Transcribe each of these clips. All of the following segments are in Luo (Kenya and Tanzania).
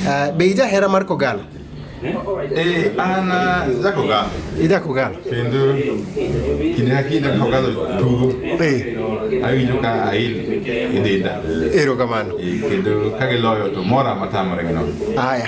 Ah, be ija hera mar kogal Eh, an ah, jakogal. ija kogal Kendo kinde ka kinde kogal tugo. Eh, Awinjo ka ail e denda. erokamano Eh, Kendo ka giloyo to mora matamore gi nono. aya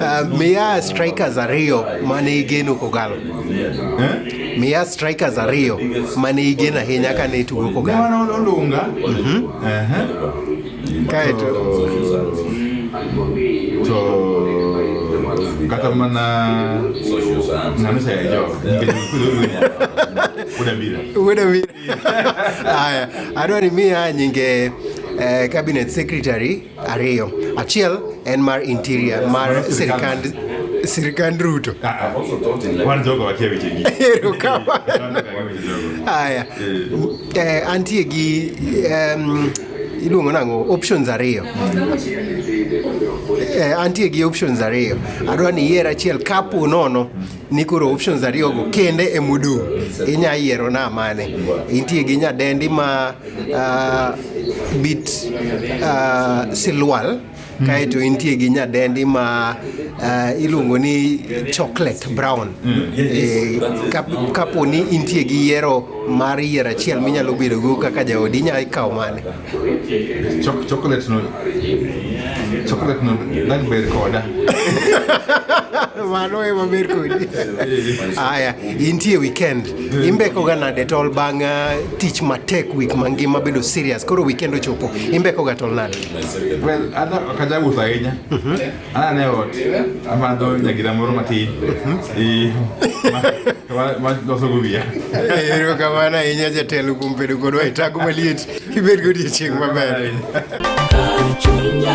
Uh, miya strikers ariyo mane igeno kogalo eh? miya strikers ariyo mane igeno ahinya kane itugo kogalo olunga mhm. kaeto to kata mana namisa ya jok udambira udambira haya adwani miya nyinge eh, cabinet secretary ariyo. Achiel en mar interior mar sirkand sirkand Ruto. Wan jogo wakia weche gi. Ero kama. Haya. Eh, antie gi em, iluongo nang'o options ariyo. Eh, antie gi options ariyo. Adwa ni iyier achiel kapo nono ni koro options ariyogo kende e modong' inya yiero na mane intie gi nyadendi ma uh, bit uh, silwal mm. kaeto intie gi nyadendi ma uh, iluongo ni chocolate brown mm. e, kapo ni intie gi yiero mar yiero achiel minyalo bedogo kaka jaodi inya ikawo mane Chok chocolate no chocolate no nag ber koda. Mano e maber kodi. Aya, intie weekend. Imbeko ga nade tol bang' ah, tich matek week mangima bedo serious. Koro weekend ochopo. Imbeko ga tol nade? Well, ana kaja wuotho ahinya. Ana ne ot. Ama do ne gida moro matin. E ma ma do so gubia. Ero kamana ahinya jatelo kuom bedo kodwa e tago maliet. Ibed godiechieng' maber. Chunya